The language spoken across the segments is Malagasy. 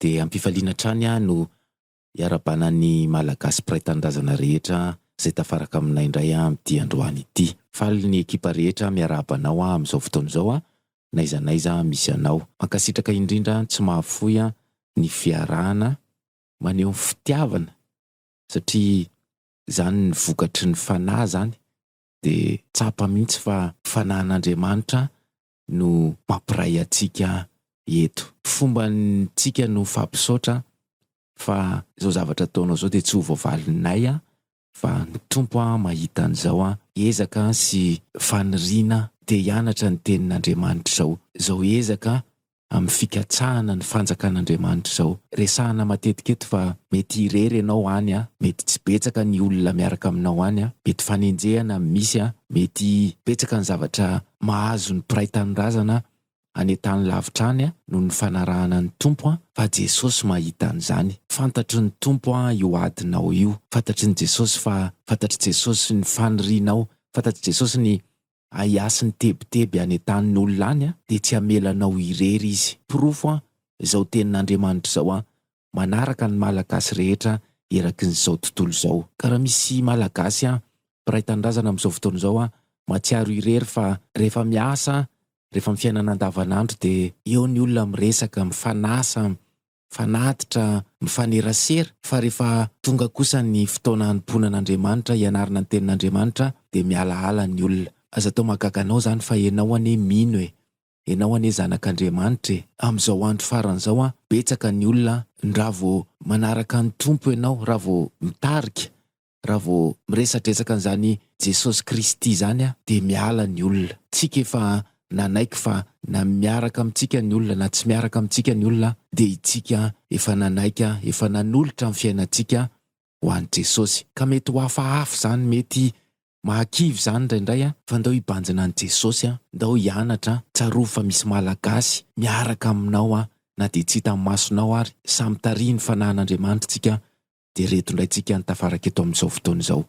dia ampifaliana hatrany aho no iarabana ny Malagasy mpiray tanindrazana rehetra izay tafaraka aminay indray amin'ity androany ity. Faly ny ekipa rehetra miarahaba anao amin'izao fotoana izao n'aiza n'aiza misy anao. Mankasitraka indrindra tsy mahafoy ny fiarahana. Maneho ny fitiavana satria izany ny vokatry ny fanahy izany dia tsapa mihitsy fa fanahin'Andriamanitra no mampiray antsika eto. Fombantsika no fampisaotra fa izao zavatra ataonao izao dia tsy ho voavalinay fa ny Tompo mahita an'izao ezaka sy faniriana te hianatra ny tenin'Andriamanitra izao, izao ezaka amin'ny fikatsahana ny fanjakan'Andriamanitra izao. Resahina matetika eto fa mety irery ianao any, mety tsy betsaka ny olona miaraka aminao any, mety fanenjehana misy, mety betsaka ny zavatra mahazo ny mpiray tanindrazana any an-tany lavitra any noho ny fanarahana ny Tompo fa Jesosy mahita an'izany. Fantatry ny Tompo io adinao io. Fantatry ny Jesosy fa fantatr'i Jesosy ny fanirianao. Fantatr'i Jesosy ny ahiasy ny tebiteby any an-tanin' olona any dia tsy hamela anao irery Izy. Porofo izao tenin'Andriamanitra izao manaraka ny Malagasy rehetra erakin'izao tontolo izao. Ka raha misy Malagasy mpiray tanindrazana amin'izao fotoana izao, mahatsiaro irery fa rehefa miasa, rehefa amin'ny fiainana andavanandro dia eo ny olona miresaka, mifanasa, mifanatitra, mifanerasera, fa rehefa tonga kosa ny fotoana hanompoana an'Andriamanitra, hianarana ny tenin'Andriamanitra dia mialaala ny olona. Aza atao mahagaga anao izany fa ianao anie mino e! Enao anie zanak' Andriamanitra e! Amin'izao andro farany izao an, betsaka ny olona an, raha vao manaraka an'i Tompo enao, raha vao mitarika, raha vao miresadresaka an'izany Jesosy Kristy izany an, dia miala ny olona. Tsika efa nanaiky fa na miaraka amintsika ny olona na tsy miaraka amintsika ny olona an, dia itsika efa nanaiky an, efa nanolotra ny fiainantsika ho an'i Jesosy. Ka mety ho hafahafa izany, mety mahakivy izany indraindray an! Fa ndao hibanjina an'i Jesosy an! Ndao hianatra an! Tsarovy fa misy Malagasy miaraka aminao an! Na dia tsy hitan'ny masonao ary, samy tarihin'ny Fanahin'Andriamanitra tsika an! Dia reto indray tsika an! Tafaraka eto amin'izao fotoana izao.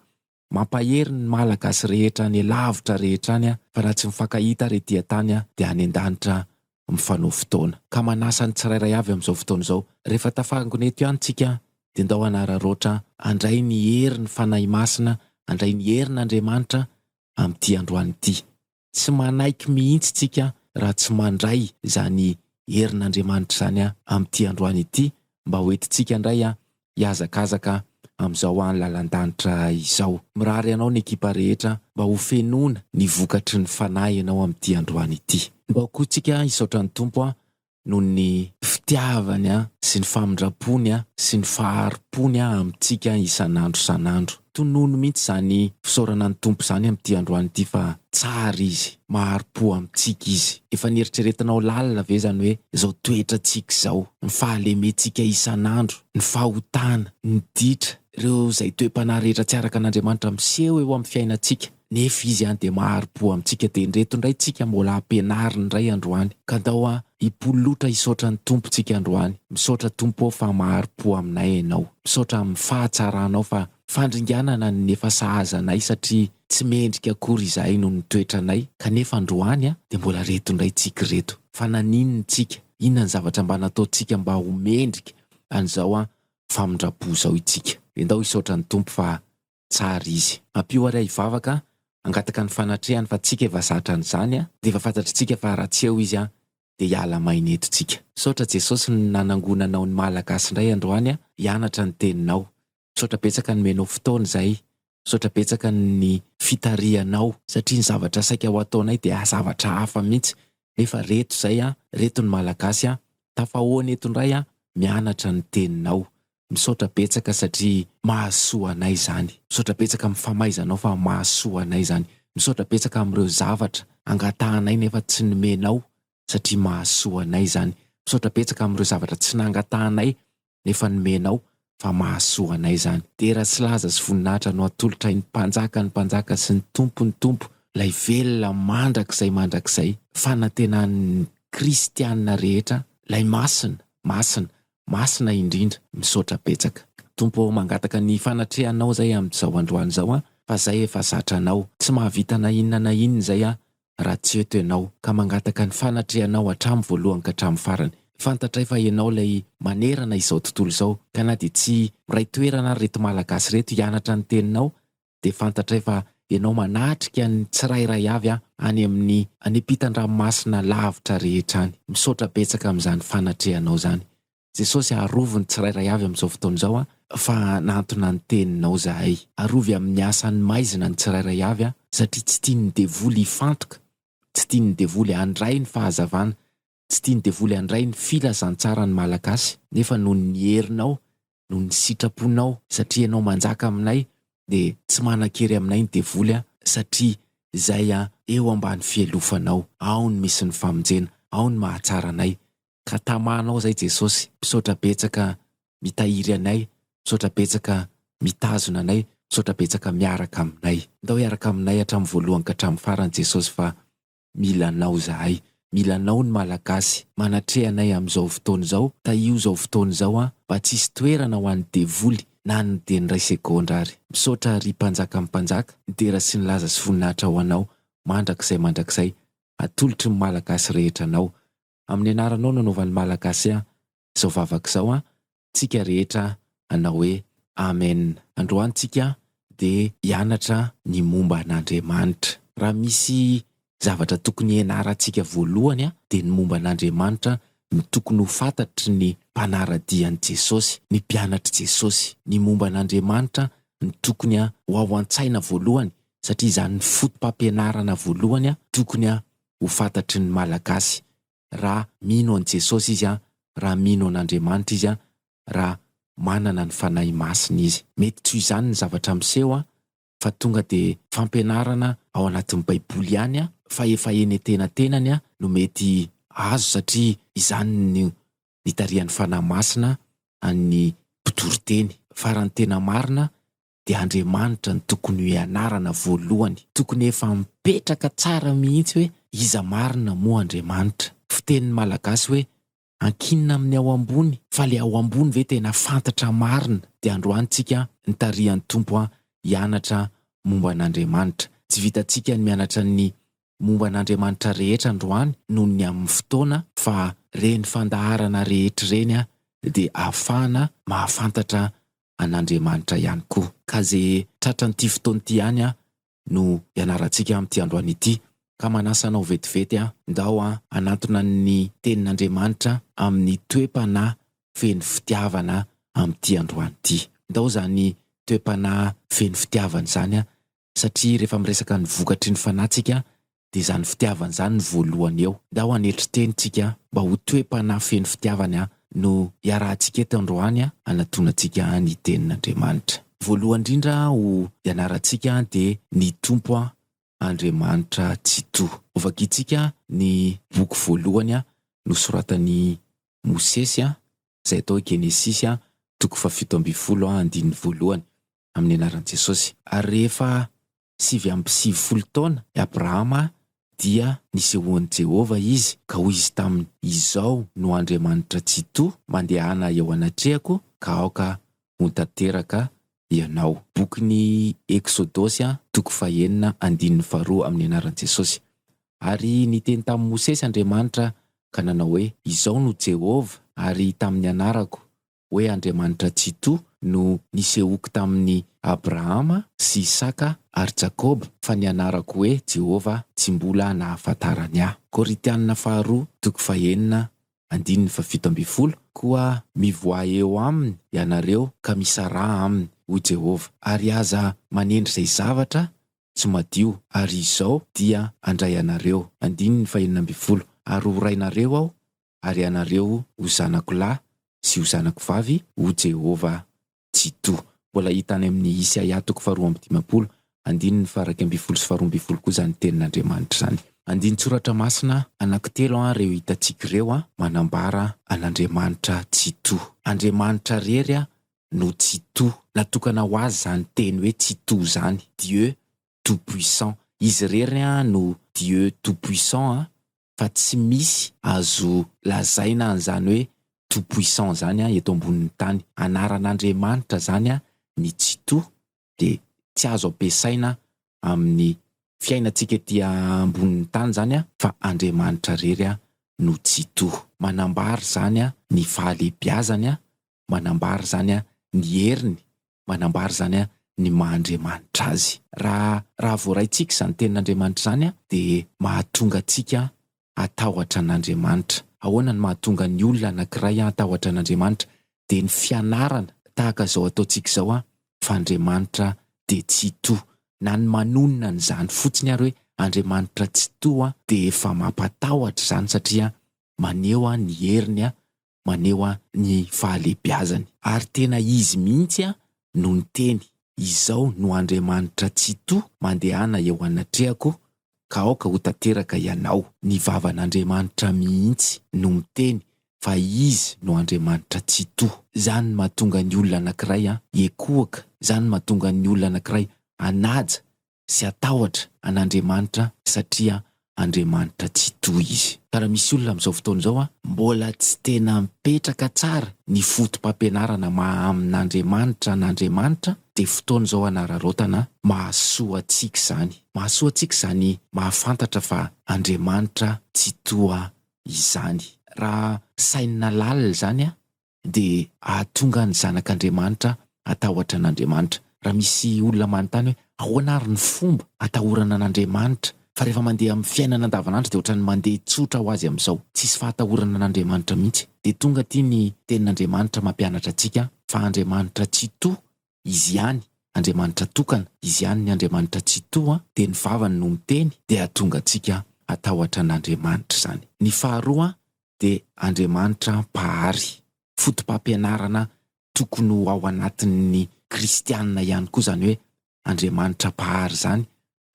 Mampahery ny Malagasy rehetra any lavitra rehetra any fa raha tsy mifankahita ary ety an-tany dia any an-danitra mifanao fotoana. Ka manasa ny tsirairay avy amin'izao fotoana izao, rehefa tafangona eto ihany tsika dia ndao hanararaotra handray ny herin'ny Fanahy Masina, handray ny herin'Andriamanitra amin'ity androany ity. Tsy manaiky mihitsy isika raha tsy mandray izany herin'Andriamanitra izany amin'ity androany ity mba ho entintsika indray hihazakazaka amin'izao lalan-danitra izao. Mirary anao ny ekipa rehetra mba ho fenoina ny vokatry ny Fanahy ianao amin'ity androany ity. Mba ho koa isika hisaotra ny Tompo noho ny fitiavany sy ny famindram-pony sy ny fahari-pony amintsika isan'andro isan'andro. Tonony mihitsy izany fisaorana ny Tompo izany amin'ity androany ity fa tsara Izy, mahari-po amintsika Izy. Efa nieritreretinao lalina ve izany hoe izao toetrantsika izao, ny fahalementsika isan'andro, ny fahotana, ny ditra, ireo izay toe-panahy rehetra tsy araka an'Andriamanitra miseho eo amin'ny fiainantsika? Nefy izy an dia mahariboa amintsika dia ndreto ndray tsika mbola ampianariny ndray androany ka ndao an hipololotra hisaotra ny Tompo tsika androany misaotra Tompo ô fa mahariboa aminay enao misaotra aminy fahatsaranao fa fandringanana ny efa sahaza anay satria tsy mendrika akory izahay noho ny toetranay kanefa androany an dia mbola reto ndray tsika reto fa naninona tsika inona ny zavatra mba natao tsika mba ho mendrika anizao an famindrapo zao itsika dia ndao hisaotra ny Tompo fa tsara izy. Ampio ary aho hivavaka hangataka ny fanatrehany fa tsika efa zatra an'izany a! Dia efa fantatritsika fa raha tsy eo izy a! Dia hiala maina eto tsika. Misaotra Jesosy ny nanangona anao ny Malagasy indray androany a! hianatra ny teninao. Misaotra betsaka nomenao fotoana izay. Misaotra betsaka ny fitarihanao. Satria ny zavatra saika ho ataonay dia zavatra hafa mihitsy. Nefa reto izay a! reto ny Malagasy a! tafahoana eto indray a! mianatra ny teninao. Misaotra betsaka satria mahasoa anay izany. Misaotra betsaka amin'ny famaizanao fa mahasoa anay izany. Misaotra betsaka amin'ireo zavatra angatahanay nefa tsy nomenao satria mahasoa anay izany. Misaotra betsaka amin'ireo zavatra tsy nangatahanay nefa nomenao fa mahasoa anay izany. Dera sy laza sy voninahitra no atolotray ny Mpanjaka ny Mpanjaka sy ny Tompo ny Tompo, Ilay velona mandrakizay mandrakizay, fanantenan'ny Kristiana rehetra, Ilay Masina, Masina, Masina indrindra. Misaotra betsaka. Tompo ô mangataka ny fanatrehanao zay amzao androany zao an fa zay efa zatra anao tsy mahavita na inona na inona zay an raha tsy eto enao ka mangataka ny fanatrehanao atramy voalohany ka atramy farany fantatray fa enao lay manerana izao tontolo izao ka na dia tsy miray toerana ary reto malagasy reto hianatra ny teninao dia fantatray fa Ianao manatrika ny tsirairay avy an, any amin'ny any ampitan-dranomasina lavitra rehetra any. Misaotra betsaka amin'izany fanatrehanao izany. Jesosy a, arovy ny tsirairay avy amin'izao fotoana izao an, fa hanantona ny Teninao izahay. Arovy amin'ny asan'ny maizina ny tsirairay avy an, satria tsy tian'ny devoly hifantoka, tsy tian'ny devoly handray ny fahazavana, Tsy tian'ny devoly handray ny filazantsaran'ny Malagasy nefa noho ny herinao, noho ny sitraponao, satria ianao manjaka aminay dia tsy manan-kery aminay ny devoly an, satria izay an eo ambany fielofanao ao no misy ny famonjena, ao no mahatsara anay, ka tamanao izay Jesosy, misaotra betsaka mitahiry anay, misaotra betsaka mitazona anay, misaotra betsaka miaraka aminay. Ndao hiaraka aminay hatramin'ny voalohany ka hatramin'ny farany Jesosy fa Mila anao zahay. Mila anao ny Malagasy. Manatreha anay amin'izao fotoana izao. Tahio izao fotoana izao an. Mba tsisy toerana ho an'ny devoly na ny dia ny iray segondra ary. Misaotra ry Mpanjakan'ny Mpanjaka. Midera sy nilaza sy voninahitra ho anao mandrakizay mandrakizay. Atolotry ny Malagasy rehetra anao. amin'ny anaranao nanaovan'ny Malagasy ahy izao vavaka izao an, tsika rehetra hanao hoe Amen androany tsika dia hianatra ny momba an'Andriamanitra. Raha misy zavatra tokony hianarantsika voalohany an dia ny momba an'Andriamanitra no tokony ho fatatry ny mpanaradia an'i Jesosy, ny mpianatr'i Jesosy. Ny momba an'Andriamanitra no tokony ho ao antsaina voalohany satria izany ny foto-pampianarana voalohany tokony ho fantatry ny Malagasy raha mino an'i Jesosy izy, raha mino an'Andriamanitra izy, raha manana ny Fanahy Masina izy. Mety toy izany ny zavatra miseho fa tonga dia fampianarana ao anatin'ny Baiboly ihany fa efa eny an-tenatenany no mety azo satria izany no nitarihan'ny Fanahy Masina an'ny mpitoriteny. Fa raha ny tena marina dia Andriamanitra no tokony ho ianarana voalohany, tokony efa mipetraka tsara mihitsy hoe iza marina moa Andriamanitra. Fitenin'ny Malagasy hoe ankinina amin'ny ao ambony fa le ao ambony ve tena fantatra marina? Dia androany tsika nitarihan'ny Tompo an hianatra momba an'Andriamanitra. Tsy vitantsika ny mianatra ny momba an'Andriamanitra rehetra androany noho ny amin'ny fotoana fa reny fandaharana rehetra ireny dia ahafahana mahafantatra an'Andriamanitra ihany koa. Ka izay tratran'ity fotoana ity ihany an no ianarantsika amin'ity androany ity. Ka manasa anao vetivety aho, ndao an hanantona ny Tenin'Andriamanitra amin'ny toe-panahy feno fitiavana amin'ity androany ity. Ndao izany toe-panahy feno fitiavana izany satria rehefa miresaka ny vokatry ny fanahy tsika dia izany fitiavana izany no voalohany eo. Ndao hanetry teny tsika mba ho toe-panahy feno fitiavana no iarahantsika eto androany hanatonantsika ny tenin'Andriamanitra. Voalohany indrindra ho ianarantsika dia ny Tompo Andriamanitra Tsitoha. Ho vakintsika ny boky voalohany nosoratan'i Mosesy izay atao hoe Genesisy toko fahafito ambin'ny folo andininy voalohany. amin'ny anaran'i Jesosy. Ary rehefa sivy amby sivifolo taona i Abrahama dia nisehoan'i Jehovah izy, ka hoy izy taminy, Izao no Andriamanitra Tsitoha, Mandehana eo anatrehako ka aoka ho tanteraka ianao. Bokin'ny Eksodosy, toko fahenina, andininy faharoa, amin'ny anaran'i Jesosy. Ary niteny tamin'i Mosesy Andriamanitra ka nanao hoe, Izao no Jehovah, ary tamin'ny anarako hoe Andriamanitra Tsitoha no nisehoako tamin'i Abrahama sy Isaka ary Jakoba, fa ny anarako hoe Jehovah tsy mbola nahafantarany ahy. Korintiana Faharoa toko fahenina andininy fahafito ambin'ny folo Koa mivoaha eo aminy ianareo ka misaraha aminy, hoy Jehovah, ary aza manendry izay zavatra tsy madio, ary izao dia handray anareo, andininy fahenina ambin'ny folo, ary horainareo aho ary ianareo ho zanako lahy sy ho zanako vavy, hoy Jehovah Tsitoha. Mbola hita any amin'ny Isaia toko faharoa amby dimampolo, andininy faharaika ambin'ny folo sy faharoa ambin'ny folo koa izany tenin'Andriamanitra izany. Andinin-tsoratra masina anankitelo ireo hitantsika ireo manambara an'Andriamanitra Tsitoha. Andriamanitra irery no Tsitoha. Natokana ho Azy izany teny hoe Tsitoha izany, Dieu tout-puissant. Izy irery no Dieu tout-puissant fa tsy misy azo lazaina an'izany hoe tout puissant izany eto ambonin'ny tany. Anaran'Andriamanitra izany ny Tsitoha dia tsy azo ampiasaina amin'ny fiainantsika ety ambonin'ny tany izany fa Andriamanitra irery no Tsitoha. Manambara izany ny fahalehibiazany, manambara izany ny heriny, manambara izany ny maha Andriamanitra Azy. Raha raha voaraintsika izany tenin'Andriamanitra izany dia mahatonga antsika hatahotra an'Andriamanitra. Ahoana no mahatonga ny olona anankiray hatahotra an'Andriamanitra? Dia ny fianarana tahaka izao ataontsika izao fa Andriamanitra dia Tsitoha. Na ny manonona an'izany fotsiny ary hoe Andriamanitra Tsitoha dia efa mampatahotra izany satria maneho ny heriny maneho ny fahalehibiazany. Ary tena izy mihitsy no niteny, Izao no Andriamanitra Tsitoha mandehana eo anatrehako ka aoka ho tanteraka ianao. Ny vavan'Andriamanitra mihitsy no miteny fa izy no Andriamanitra Tsitoha. Izany no mahatonga ny olona anankiray hiekohoka, izany no mahatonga ny olona anankiray hanaja sy hatahotra an'Andriamanitra satria Andriamanitra tsy tohy izy. Ka raha misy olona amin'izao fotoana izao mbola tsy tena mipetraka tsara ny fotopampianarana maha amin'Andriamanitra an'Andriamanitra dia fotoana izao hanararaotana mahasoa antsika izany. Mahasoa antsika izany mahafantatra fa Andriamanitra tsy toha izany. Raha sainina lalina izany dia hahatonga ny zanak'Andriamanitra hatahotra an'Andriamanitra. Raha misy olona manontany hoe, ahoana ary ny fomba hatahorana an'Andriamanitra? Fa rehefa mandeha amin'ny fiainana andavanandro dia ohatran'ny mandeha tsotra ho azy amin'izao. Tsisy fahatahorana an'Andriamanitra mihitsy. Dia tonga aty ny tenin'Andriamanitra mampianatra antsika fa Andriamanitra Tsitoha Izy ihany, Andriamanitra tokana, Izy ihany ny Andriamanitra Tsitoha, dia ny vavany no miteny, dia hahatonga antsika hatahotra an'Andriamanitra izany. Ny faharoa dia Andriamanitra Mpahary. Foto-pampianarana tokony ho ao anatin'ny kristiana ihany koa izany hoe Andriamanitra Mpahary izany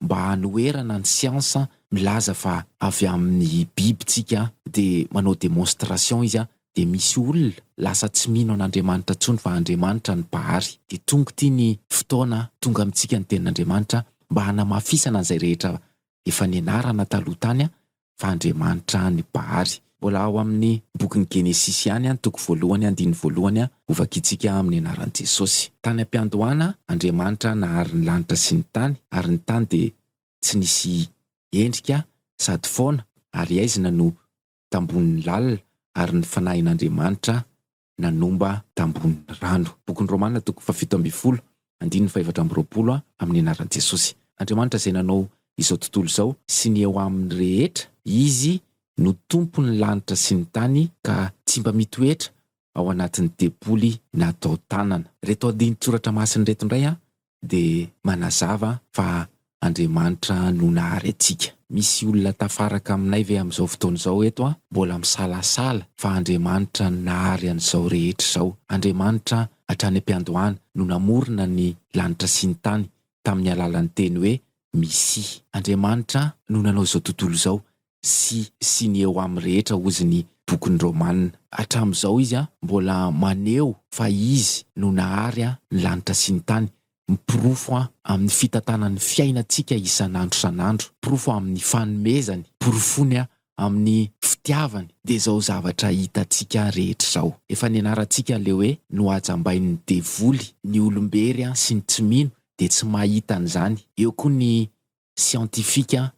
mba hanoherana ny siansa milaza fa avy amin'ny biby tsika dia manao demonstration izy dia misy olona lasa tsy mino an'Andriamanitra tsony fa Andriamanitra ny mpahary dia tonga ity ny fotoana tonga amintsika ny tenin'Andriamanitra mba hanamafisana an'izay rehetra efa nianarana taloha tany fa andriamanitra ny Bahaly. Mbola ao amin'ny bokin'ny Genesisy ihany, toko voalohany, andininy voalohany, ho vakintsika amin'ny anaran'i Jesosy. Tany am-piandohana, Andriamanitra nahary ny lanitra sy ny tany, ary ny tany dia tsy nisy endrika sady foana, ary haizina no tambohon'ny lalina, ary ny fanahin'Andriamanitra nanomba tambohon'ny rano. Bokin'ny Romana toko fahafito ambin'ny folo, andininy fahefatra amby roapolo Amin'ny anaran'i Jesosy, Andriamanitra izay nanao izao tontolo izao sy ny eo aminy rehetra, Izy no tompon'ny lanitra sy ny tany ka tsy mba mitoetra ao anatin'ny tempoly natao tanana. Ireto adin-tsoratra masina ireto indray dia manazava fa Andriamanitra no nahary antsika. Misy olona tafaraka aminay ve amin'izao fotoana izao eto an, mbola misalasala fa Andriamanitra no nahary an'izao rehetra izao? Andriamanitra hatrany am-piandohana no namorona ny lanitra sy ny tany tamin'ny alalan'ny teny hoe Misy. Andriamanitra no nanao izao tontolo izao sy sy ny eo aminy rehetra hozy ny bokin'ny Romana. Hatramin'izao izy mbola maneho fa izy no nahary ny lanitra sy ny tany, miporofo amin'ny fitantanan'ny fiainantsika isan'andro isan'andro, porofo amin'ny fanomezany, porofony amin'ny fitiavany, dia izao zavatra hitantsika rehetra izao. Efa nianarantsika ilay hoe nohajambain'ny devoly ny olom-bery sy ny tsy mino dia tsy mahita an'izany, eo koa ny siantifika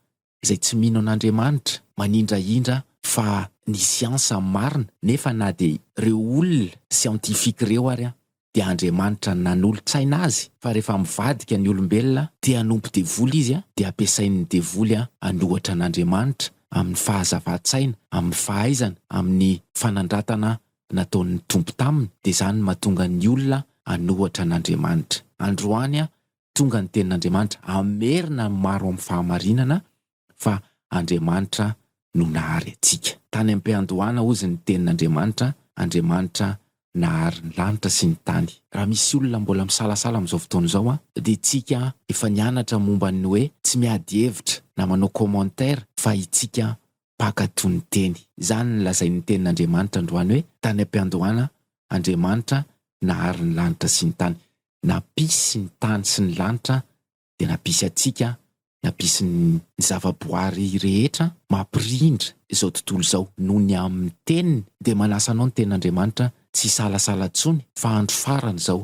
izay tsy mino an'Andriamanitra manindrahindra fa ny siansa no marina nefa na dia ireo olona siantifika ireo ary dia Andriamanitra nanolotsaina azy fa rehefa mivadika ny olombelona te hanompo devoly izy dia ampiasain'ny devoly an'ohatra an'Andriamanitra amin'ny fahazavan-tsaina, amin'ny fahaizana, amin'ny fanandratana nataon'ny Tompo taminy dia izany mahatonga ny olona an'ohatra an'Andriamanitra androany tonga ny tenin'Andriamanitra hamerina ny maro amin'ny fahamarinana fa Andriamanitra no nahary antsika. Tany am-piandohana hozy ny tenin'Andriamanitra, Andriamanitra nahary ny lanitra sy ny tany. Raha misy olona mbola misalasala amin'izao fotoana izao an, dia tsika efa nianatra momba ny hoe tsy miady hevitra na manao commentaire fa itsika Mpaka toy ny teny. Izany no lazain'ny Tenin'Andriamanitra androany hoe, Tany am-piandohana Andriamanitra nahary ny lanitra sy ny tany. Nampisy ny tany sy ny lanitra dia nampisy antsika, nampisy ny. Ny zavaboary rehetra mampirindra izao tontolo izao. Noho ny amin'ny Teniny dia manasa anao ny Tenin'Andriamanitra tsy hisalasala intsony fa andro farany izao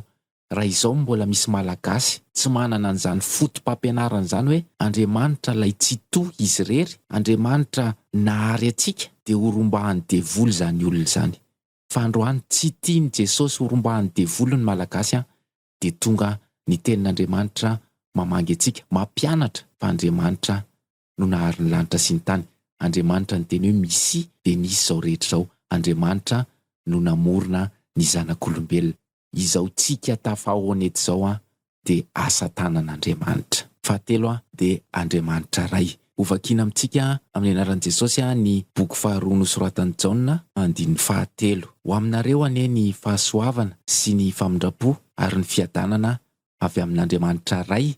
raha izao no mbola misy Malagasy tsy manana an'izany foto-pampianarana izany hoe Andriamanitra ilay Tsitoha izy irery, Andriamanitra nahary antsika dia ho rombahan'ny devoly izany olona izany. Fa androany tsy tian'i Jesosy ho rombahan'ny devoly ny Malagasy an, dia tonga ny tenin'Andriamanitra mamangy antsika, mampianatra fa Andriamanitra no nahary ny lanitra sy ny tany, Andriamanitra niteny hoe misia dia nisy izao rehetra izao, Andriamanitra no namorona ny zanak'olombelona. Izao tsika tafahaona eto izao dia asa tanan'Andriamanitra. Fahatelo dia Andriamanitra Ray. Ho vakiana amintsika amin'ny anaran'i Jesosy ny boky faharoa nosoratan'i Jaona, andininy fahatelo. Ho aminareo anie ny fahasoavana sy ny famindram-po ary ny fiadanana avy amin'Andriamanitra Ray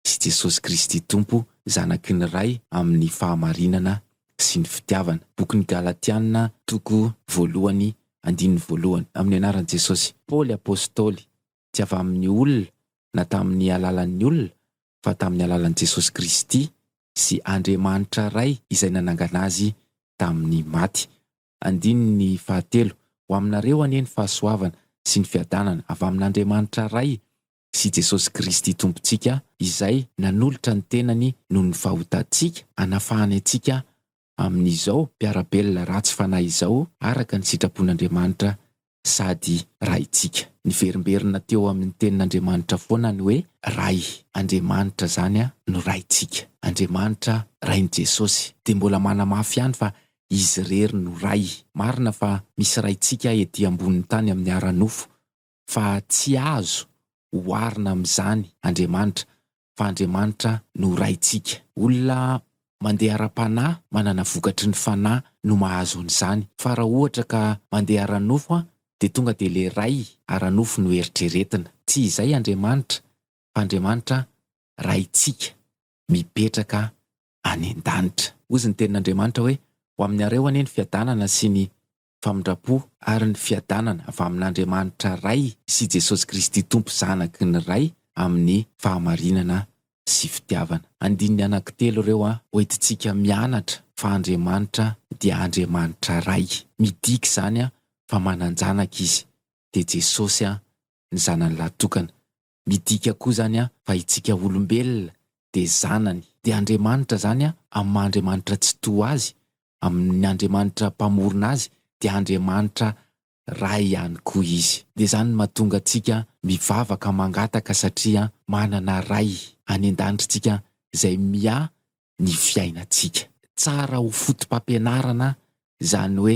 sy Jesosy Kristy Tompo zanaky ny Ray amin'ny fahamarinana sy ny fitiavana. Bokin'ny Galatiana toko voalohany andininy voalohany. Amin'ny anaran'i Jesosy, Paoly Apostoly, tsy avy amin'ny olona na tamin'ny alalan'ny olona, fa tamin'ny alalan'i Jesosy Kristy sy Andriamanitra Ray izay nanangana azy tamin'ny maty. Andininy fahatelo, Ho aminareo anie ny fahasoavana sy ny fiadanana avy amin'Andriamanitra Ray sy Jesosy Kristy Tompontsika izay nanolotra ny tenany noho ny fahotantsika hanafahany antsika amin'izao mpiara-belona ratsy fanahy izao araka ny sitrapon'Andriamanitra sady Raintsika. Niverimberina teo amin'ny tenin'Andriamanitra foana ny hoe Ray. Andriamanitra izany no Raintsika. Andriamanitra Rain'i Jesosy. Dia mbola manamafy ihany fa Izy irery no Ray. Marina fa misy Raintsika ety ambonin'ny tany amin'ny ara-nofo, fa tsy azo oharina amin'izany Andriamanitra, fa Andriamanitra no Raintsika. Olona mandeha ara-panahy, manana vokatry ny fanahy no mahazo an'izany, fa raha ohatra ka mandeha ara-nofo dia tonga dia ilay Ray ara-nofo no eritreretina. Tsy izay Andriamanitra, fa Andriamanitra Raintsika mipetraka any an-danitra. Hozy ny tenin'Andriamanitra hoe, Ho aminareo anie ny fiadanana sy ny famindram-po ary ny fiadanana avy amin'Andriamanitra Ray sy Jesosy Kristy Tompo Zanaky ny Ray amin'ny fahamarinana sy fitiavana. Andininy anankitelo ireo hoentintsika mianatra fa Andriamanitra dia Andriamanitra Ray. Midika izany fa manan-janaka Izy, dia Jesosy ny Zanany lahy tokana. Midika koa izany an fa itsika olombelona dia zanany, dia Andriamanitra izany an amin'ny maha Andriamanitra Tsitoha azy, amin'ny Andriamanitra Mpamorona azy dia Andriamanitra Ray ihany koa izy. Dia izany no mahatonga antsika mivavaka mangataka satria manana Ray any an-danitra itsika izay miahy ny fiainantsika. Tsara ho fotopampianarana izany hoe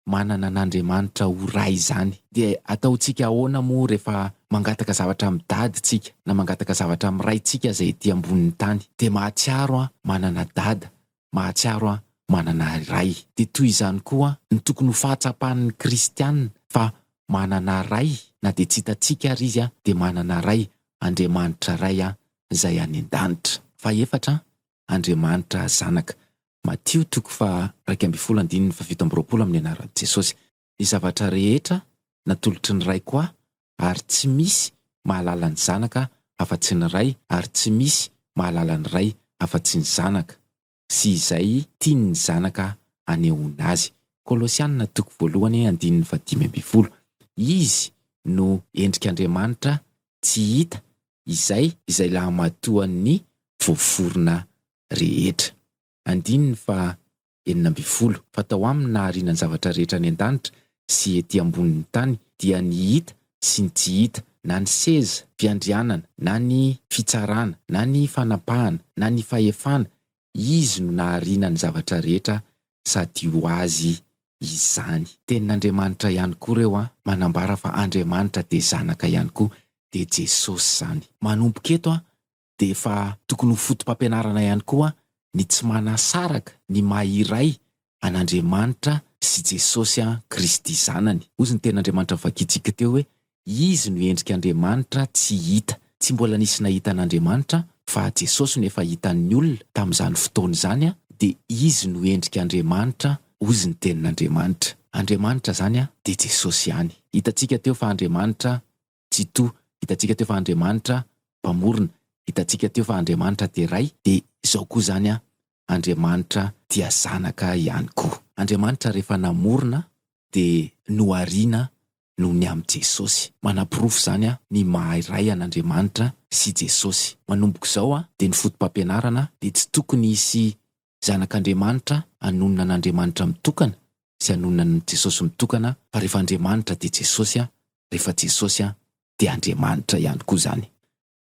manana an'Andriamanitra ho Ray izany. Dia ataontsika ahoana moa rehefa mangataka zavatra amin'i Dada tsika, na mangataka zavatra amin'i Raintsika izay ety ambonin'ny tany? Dia mahatsiaro an, manana Dada, mahatsiaro an, manana Ray. Dia toy izany koa no tokony ho fahatsapan'ny kristiana fa manana Ray, na dia tsy hitantsika ary Izy dia manana Ray, Andriamanitra Ray an, izay any an-danitra. Fahefatra, Andriamanitra Zanaka. Matio toko faha-iraika ambin'ny folo andininy fahafito amby roapolo Amin'ny anaran'i Jesosy, ny zavatra rehetra natolotry ny Raiko Ahy, ary tsy misy mahalala ny Zanaka afa-tsy ny Ray, ary tsy misy mahalala ny Ray afa-tsy ny Zanaka. sy izay tiany ny zanaka hanehoana azy. Kolosiana toko voalohany andininy fahadimy ambin'ny folo. Izy no endrik'Andriamanitra tsy hita izay izay lahamatoan'ny voaforona rehetra. Andininy faha enina ambin'ny folo. Fa tao aminy nahariana ny zavatra rehetra any an-danitra sy ety ambonin'ny tany dia ny hita sy ny tsy hita, na ny seza fiandrianana, na ny fitsarana, na ny fanapahana, na ny fahefana, Izy no nahariana ny zavatra rehetra sady ho Azy izany. Tenin'Andriamanitra ihany koa ireo an, manambara fa Andriamanitra dia Zanaka ihany koa, dia Jesosy izany. Manomboka eto an, dia efa tokony ho foto-pampianarana ihany koa ny tsy manasaraka ny maha iray an'Andriamanitra sy Jesosy Kristy Zanany. Hozy ny Tenin'Andriamanitra novakintsika teo hoe, Izy no endrik' Andriamanitra tsy hita. Tsy mbola nisy nahita an'Andriamanitra, fa Jesosy no efa hitan'ny olona tamin'izany fotoana izany, dia Izy no endrik' Andriamanitra, hozy ny Tenin'Andriamanitra. Andriamanitra izany dia Jesosy ihany. Hitantsika teo fa Andriamanitra Tsitoha, hitantsika teo fa Andriamanitra mpamorona, hitantsika teo fa Andriamanitra dia Ray, dia izao koa izany Andriamanitra dia Zanaka ihany koa. Andriamanitra rehefa namorona dia nohariana noho ny amin'i Jesosy. Manaporofo izany ny maha Ray an'Andriamanitra sy Jesosy. Manomboka izao dia ny fotopampianarana dia tsy tokony hisy Zanak'Andriamanitra hanonona an'Andriamanitra mitokana sy hanonona an'i Jesosy mitokana fa rehefa Andriamanitra dia Jesosy rehefa Jesosy dia Andriamanitra ihany koa izany.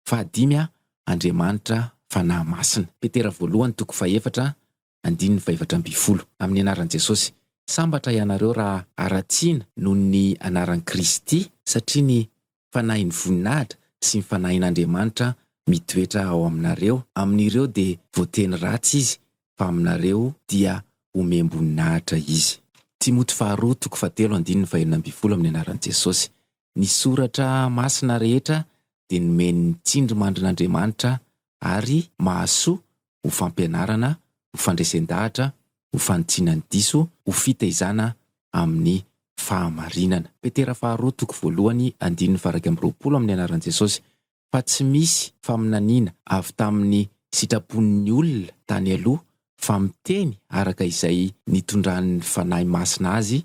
Fahadimy Andriamanitra Fanahy Masina. Petera voalohany toko fahefatra andininy fahefatra ambin'ny folo. Amin'ny anaran'i Jesosy. Sambatra ianareo raha haratsiana noho ny anaran'i Kristy satria ny fanahin'ny voninahitra sy ny fanahin'Andriamanitra mitoetra ao aminareo, amin'ireo dia voateny ratsy izy fa aminareo dia omem-boninahitra izy. Timoty faharoa toko fahatelo andininy fahenina ambin'ny folo Amin'ny anaran'i Jesosy, ny soratra masina rehetra dia nomen'ny tsindrimandrin'Andriamanitra ary mahasoa ho fampianarana, ho fandresen-dahatra, ho fanitsiana ny diso, ho fitaizana amin'ny fahamarinana. Petera faharoa toko voalohany andininy faha-iraika amby roapolo Amin'ny anaran'i Jesosy, fa tsy misy faminaniana avy tamin'ny sitrapon'ny olona tany aloha, fa miteny araka izay nitondran'ny Fanahy Masina azy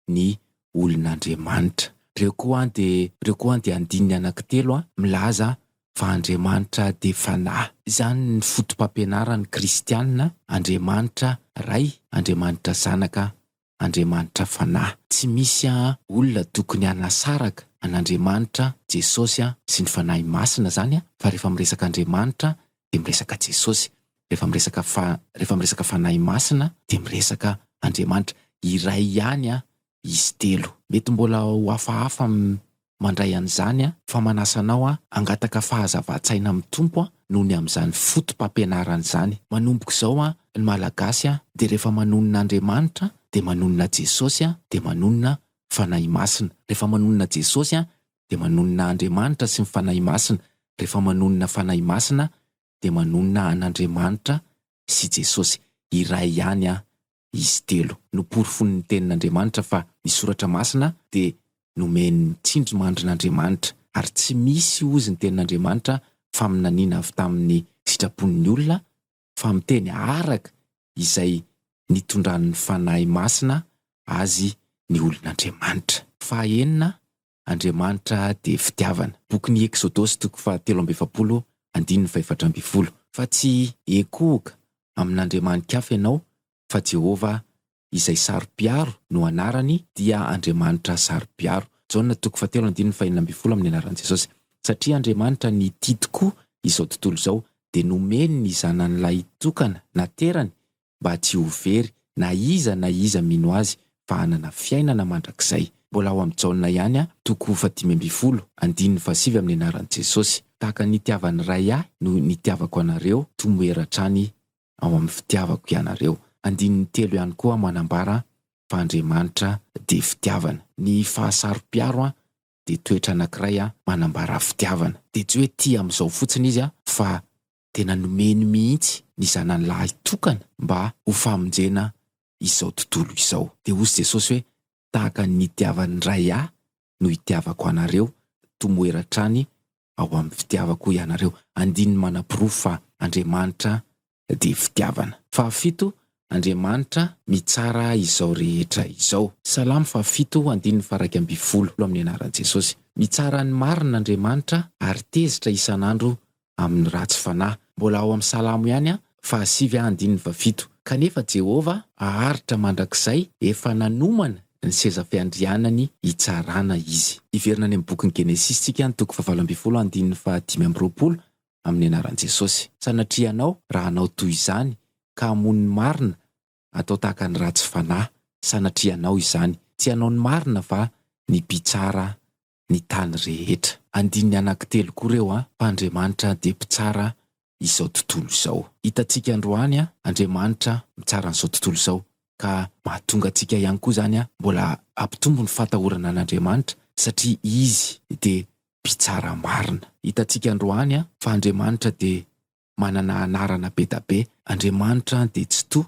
ny olon'Andriamanitra. Reo koa an de reo koa an de andininy anaky telo an milaza fa Andriamanitra de fanahy. Izany ny fotopampianaran'ny kristianina, Andriamanitra Ray, Andriamanitra Zanaka, Andriamanitra Fanahy. Tsy misy an olona tokony hanasaraka an'Andriamanitra, Jesosy sy ny Fanahy Masina zany an fa refa miresaka Andriamanitra dia miresaka Jesosy, rehefa miresaka fa rehefa miresaka Fanahy Masina dia miresaka Andriamanitra, iray ihany an izy telo. Mety mbola ho hafahafa ny mandray an'izany an, fa manasa anao an hangataka fahazavan-tsaina amin'ny Tompo an noho ny amin'izany foto-pampianarana izany. Manomboka izao an ny Malagasy an dia rehefa manonona Andriamanitra an dia manonona Jesosy an dia manonona Fanahy Masina, rehefa manonona Jesosy an dia manonona Andriamanitra sy ny Fanahy Masina, rehefa manonona Fanahy Masina dia manonona an'Andriamanitra sy Jesosy, iray ihany an izy telo. Noporofoin'ny Tenin'Andriamanitra fa ny Soratra Masina dia nomen'ny tsindrimandrin'Andriamanitra, ary tsy misy hozy ny Tenin'Andriamanitra faminaniana avy tamin'ny sitrapon'ny olona fa miteny araka izay nitondran'ny Fanahy Masina azy ny olon'Andriamanitra. Fahaenina, Andriamanitra dia fitiavana. Bokin'ny Eksodosy toko fahatelo amby efapolo, andininy fahefatra ambin'ny folo. Fa tsy hiekohoka amin'andriamani-kafa ianao fa Jehovah izay saro-piaro no anarany dia Andriamanitra saro-piaro. Jaona toko fahatelo andininy fahenina ambin'ny folo amin'ny anaran'i Jesosy. Satria Andriamanitra nitia tokoa izao tontolo izao dia nomeny ny Zanany lahitokana naterany mba tsy ho very na iza na iza mino Azy fa hanana fiainana mandrakizay. Mbola ao amin'i Jaona ihany toko fahadimy ambin'ny folo andininy fahasivy amin'ny anaran'i Jesosy. Tahaka ny nitiavan'ny Ray ahy no nitiavako anareo, tomoera hatrany ao amin'ny fitiavako ianareo. Andininy telo ihany koa manambara fa Andriamanitra dia fitiavana. Ny fahasaropiaro dia toetra anankiray manambara fitiavana. Dia tsy hoe tia amin'izao fotsiny izy fa tena nomeny mihitsy ny Zanany lahy tokana mba ho famonjena izao tontolo izao. Dia hoy Jesosy hoe, Tahaka ny nitiavan'ny Ray ahy no itiavako anareo, tomoera hatrany ao amin'ny fitiavako ianareo. Andininy manaporofo fa Andriamanitra dia fitiavana. Fahafito, Andriamanitra mitsara izao rehetra izao. Salamo fahafito, andininy faharaika ambin'ny folo, amin'ny anaran'i Jesosy. Mitsara ny marina Andriamanitra ary tezitra isan'andro amin'ny ratsy fanahy. Mbola ao amin'ny Salamo ihany an, fahasivy andininy fahafito. Kanefa Jehovah haharitra mandrakizay, efa nanomana ny seza fiandrianany hitsarana izy. Hiverina any amin'ny bokin'ny Genesisy isika any toko fahavalo ambin'ny folo andininy fahadimy amby roapolo amin'ny anaran'i Jesosy. Sanatria ianao raha hanao toy izany ka hamono ny marina atao tahaka ny ratsy fanahy. Sanatria ianao izany. Tsy hanao ny marina fa ny mpitsara ny tany rehetra. Andininy anankitelo koa ireo an, fa Andriamanitra dia mpitsara izao tontolo izao. Hitantsika androany an, Andriamanitra mitsara an'izao tontolo izao, ka mahatonga antsika ihany koa izany an, mbola hampitombo ny fahatahorana an'Andriamanitra, satria Izy dia mpitsara marina. Hitantsika androany an, fa Andriamanitra dia manana anarana bedabe, Andriamanitra dia Tsitoha,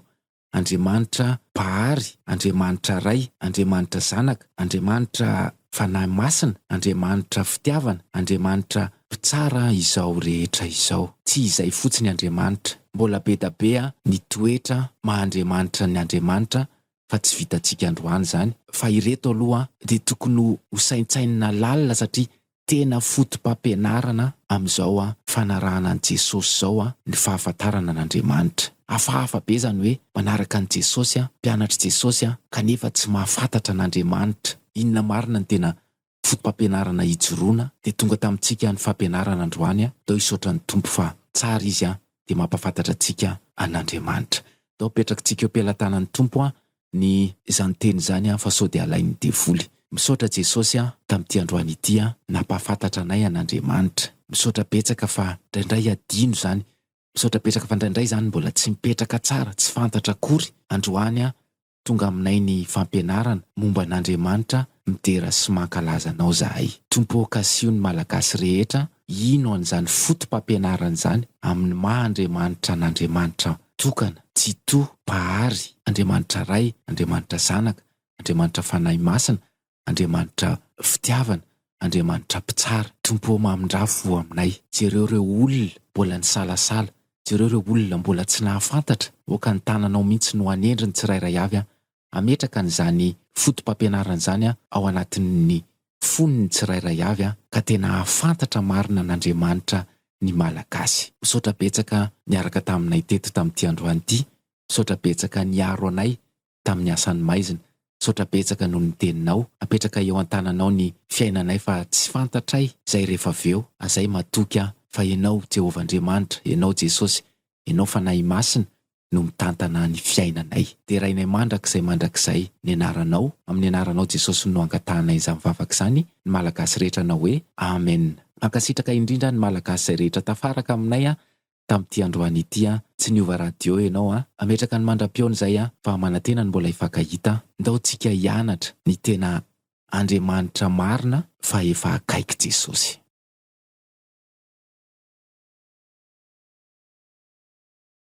Andriamanitra Mpahary, Andriamanitra Ray, Andriamanitra Zanaka, Andriamanitra Fanahy Masina, Andriamanitra Fitiavana, Andriamanitra Mpitsara izao rehetra izao. Tsy izay fotsiny Andriamanitra. Mbola bedabe ny toetra maha Andriamanitra ny Andriamanitra fa tsy vitantsika androany izany, fa ireto aloha dia tokony ho saintsainina lalina satria Tena fotopampianarana amin'izao fanarahana an'i Jesosy izao ny fahafantarana an'Andriamanitra. Hafahafa be izany hoe manaraka an'i Jesosy, mpianatr'i Jesosy, kanefa tsy mahafantatra an'Andriamanitra. Inona marina no tena fotopampianarana hijoroana dia tonga tamintsika ny fampianarana androany Tao hisaotra ny Tompo fa tsara Izy dia mampafantatra antsika an'Andriamanitra. Tao apetrakitsika eo am-pelatanan'ny Tompo ny izany teny izany an fa sao dia alain'ny devoly. Misaotra Jesosy an tamin'ity androany ity an nampahafantatra anay an'Andriamanitra. Misaotra betsaka fa ndraindray adino izany. Misaotra betsaka fa ndraindray izany mbola tsy mipetraka tsara, tsy fantatra akory. Androany an tonga aminay ny fampianarana momba an'Andriamanitra midera sy mankalaza anao zahay. Tompo ô kasiho ny Malagasy rehetra hino an'izany foto-pampianarana izany amin'ny maha Andriamanitra an'Andriamanitra tokana, Tsitoha, Mpahary, Andriamanitra Ray, Andriamanitra Zanaka, Andriamanitra Fanahy Masina, Andriamanitra Fitiavana, Andriamanitra Mpitsara. Tompo ô mamindraha fo aminay. Jereo ireo olona mbola nisalasala, jereo ireo olona mbola tsy nahafantatra, aoka ny tananao mihitsy no hanendry ny tsirairay avy an, hametraka an'izany fotopampianarana izany ao anatin'ny fon'ny tsirairay avy ka tena hahafantatra marina an'Andriamanitra ny Malagasy. Misaotra betsaka niaraka taminay teto tamin'ity androany ity, misaotra betsaka niaro anay tamin'ny asan'ny maizina, misaotra betsaka noho ny teninao, apetraka eo an-tananao ny fiainanay fa tsy fantatray izay rehefa avy eo, azay matoky aho fa ianao Jehovah Andriamanitra, ianao Jesosy, ianao Fanahy Masina no mitantana ny fiainanay. Derainay mandrakizay mandrakizay ny anaranao, amin'ny anaranao Jesosy no angatahanay izany vavaka izany, ny Malagasy rehetra hanao hoe, Amen. Mankasitraka indrindra ny Malagasy izay rehetra tafaraka aminay an, tamin'ity androany ity an, tsy niova radio ianao an, ametraka ny mandra-pihaona izay an, fa manantena ny mbola hifankahita an, ndao tsika hianatra ny tena Andriamanitra marina fa efa akaiky Jesosy.